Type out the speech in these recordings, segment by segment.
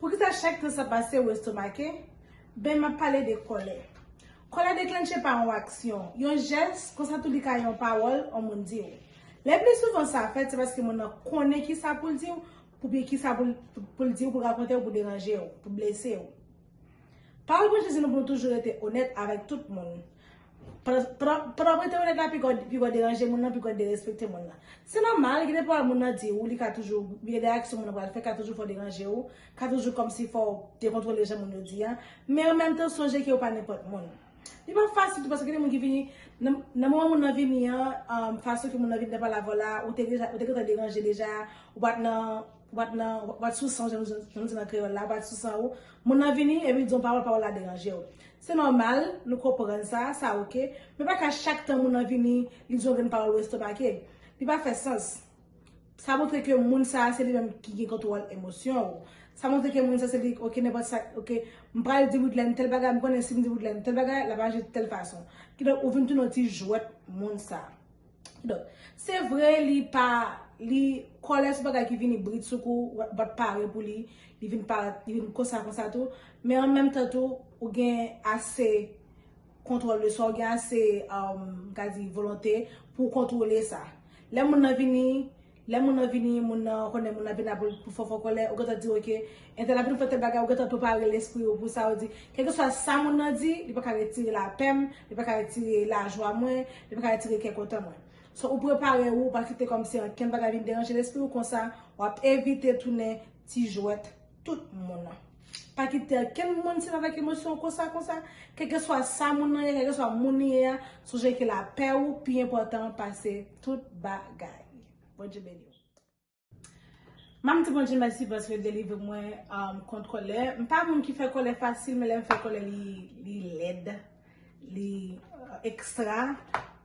Poukisa chak tan sa pase ou estomake? Ben, m ap pale de kòlè. Kòlè deklannche pa yon aksyon, yon jès, konsa tou li ka yon pawòl yon moun di ou. Lepli souvan sa fèt se paske moun nan konnen kisa pou l di ou, oubyen kisa pou l di ou, pou l rakonte ou, pou deranje ou, pou blese ou. Pawòl Bondye di nou pou nou toujou rete onèt avèk tout moun. Pandan w rete onèt la, pi gwo deranje moun nan, pi gwo derespekte moun nan. Se nòmal, gen de pawòl moun nan di ou, li ka toujou, gen de aksyon moun nan pral fè ka toujou fè w deranje ou, ka toujou kòmsi fò w dekontwole jan moun yo di an. Men an menm tan, sonje ke ou pa nenpòt moun. Li pa fasil tou paske gen de moun ki vini, nan moman moun nan vini an, fason ke moun nan vini nan pale avè w la, ou te gentan deranje deja, ou pa t nan. Ou pat nan, ou pat sou san w jan nou di nan kreyòl la, ou pat sou san ou. Moun nan vini epi l di w yon pawòl, pawòl la deranje w. Se nòmal, nou konprann sa, sa ok. Men pa ka chak tan moun nan vini, li di w yon grenn pawòl ou estomake. Li pa fè sans. Sa montre ke moun sa a se li menm ki gen kontwòl emosyon ou. Sa montre ke moun sa se li, ok nenpòt sa, ok m pral di Widlène tèl bagay, m konnen si m di Widlène tèl bagay, l ap aji tèl fason. Kidonk ou vin tounen yon ti jwèt moun sa a. Donk, se vre li pa, li kòlè sou bagay ki vini bridsoukou, bat pare pou li, li vin pa, li vin konsa konsa tou, men an menm tan tou, ou gen ase kontwòl de swa, ou gen ase, m ka di, volonte pou w kontwole sa. Lè moun nan vini. Lè moun nan vini, moun nan, ou konnen moun nan vini la pou l pou fòfò kòlè, ou gentan di ok, entèl ap vin fè tèl bagay, ou gentan prepare lespri ou pou sa, ou di, kèlkeswa sa moun nan di, li pa ka retire lapè m, li pa ka retire lajwa mwen, li pa ka retire kè kontan mwen. So, ou prepare ou, ou pa kite kòmsi ankenn bagay vin deranje lespri ou, konsa, w ap evite tounen ti jwèt tout moun. Pa kite okenn moun sèvi avèk emosyon w konsa konsa. Kèlkeswa sa moun nan ye, kèlkeswa moun li ye a, sonje ke lapè ou pi enpòtan pase tout bagay. Bondye beni w. Mwen ap di Bondye mèsi paske l delivre mwen kont kòlè. M pa moun ki fè kòlè fasil, men lè m fè kòlè li lèd, li ekstra.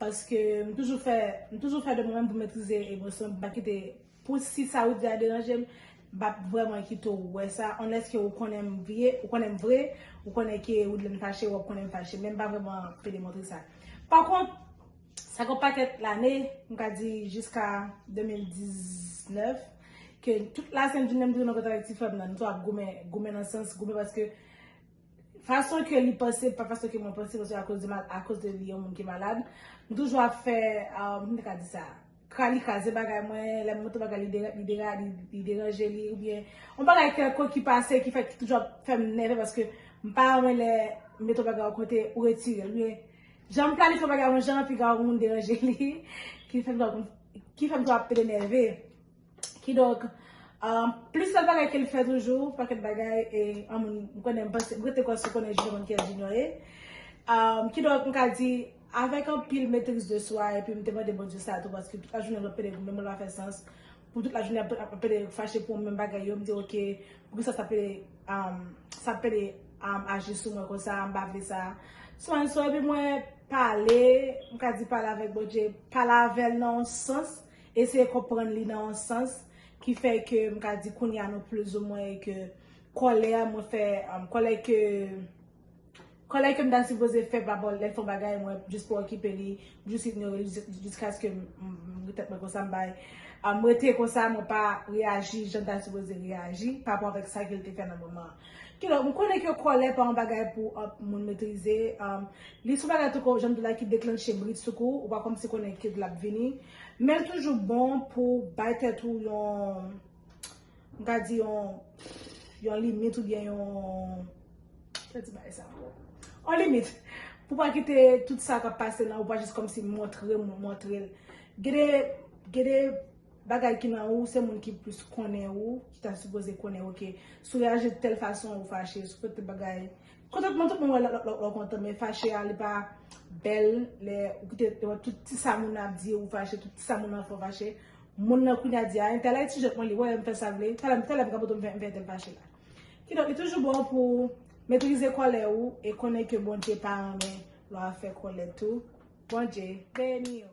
Paske m toujou fè de mwen menm pou m metrize emosyon m, pou m pa kite Pou si sa ou di a deranje m, m pa p vrèman kite w wè sa, unless ke ou konnen m vye, ou konnen m vre, ou konnen ke Woodlanne fache, w ap konnen m fache. Men m pa vrèman pe demontre sa. Pa kont, sa gen yon pakèt lane, m ka di jiska 2019, ke tout la senn jounen m toujou nan kontak ak ti frè m nan. Nou toujou ap goumen, goumen nan sans, goumen paske. Fason ke li panse pa fason ke mwen panse paske akoz de mal akoz de li yon moun ki malad m toujou ap fè kòm ta ka di sa ka li kraze bagay mwen lè m montre bagay li dera li dera li deranje li oubyen yon bagay kèlkonk ki pase ki fè ki toujou ap fè m nève paske m pa renmen lè m mete yon bagay yon kote ou retire l oubyen jan m planifye yon bagay yon jan epi gen yon moun deranje li ki fè m toujou ap ki fè m toujou ap ede nève. Kidonk, plis lòt bagay ke l fè toujou, pakèt bagay e anmweyy m konnen m panse m rete kwè si w konnen Junior w konn kiyès Junior ye. Kidonk m ka di avèk anpil metriz de swa epi m te mande Bondye sa tou paske tout lajounen lòt pede menm lè l pa fè sans pou tout lajounen ap ap pede fache pou menm bagay yo m di ok poukisa sa pede sa pede aji sou mwen konsa m pa vle sa so and so epi mwen pale m ka di pale avèk Bondye pale avè l nan yon sans eseye konprann li nan yon sans ki fè ke m ka di kounye a nou plizoumwen e ke kòlè a mwen fè, kòlè ke, kòlè ke m ta sipoze fè pa rapò lè l fè yon bagay mwen jis pa okipe li, m jis inyore li jiskaske m di tèt mwen konsa m bay, m rete konsa mwen pa reyaji jan m ta sipoze reyaji pa rapò avèk sa ke l te fè nan moman an. Kidonk m konnen ke kòlè pa yon bagay pou moun metrize, li se yon bagay tou kou jan m di w la ki deklanche bridsoukou, ou pa kòmsi konnen kilè l ap vini. Menl toujou bon pou bay tèt ou yon m ka di yon yon limit oubyen yon kisa ti bagay sa ankò yon limit pou pa kite tout sa kap pase nan ou pa jis kòmsi montre moun montrel gen de gen de bagay ki nan ou se moun ki plis konnen ou ki ta sipoze konnen ou ke si w reyaji tèl fason ou fache si w fè tèl bagay Kontantman tout moun wè lè w kontan men fache a li pa bèl lè ou kite wè tout ti sa moun nan ap di ou fache tout ti sa moun nan fè ou fache moun nan kounye a di a entèl a etijòt mwen li wè m fè sa l vle talè talè m ka pote m fè entèl fache la kidonk li toujou bon pou w metrize kòlè ou e konnen ke Bondye pa renmen lè w ap fè kòlè tou Bondye beni w.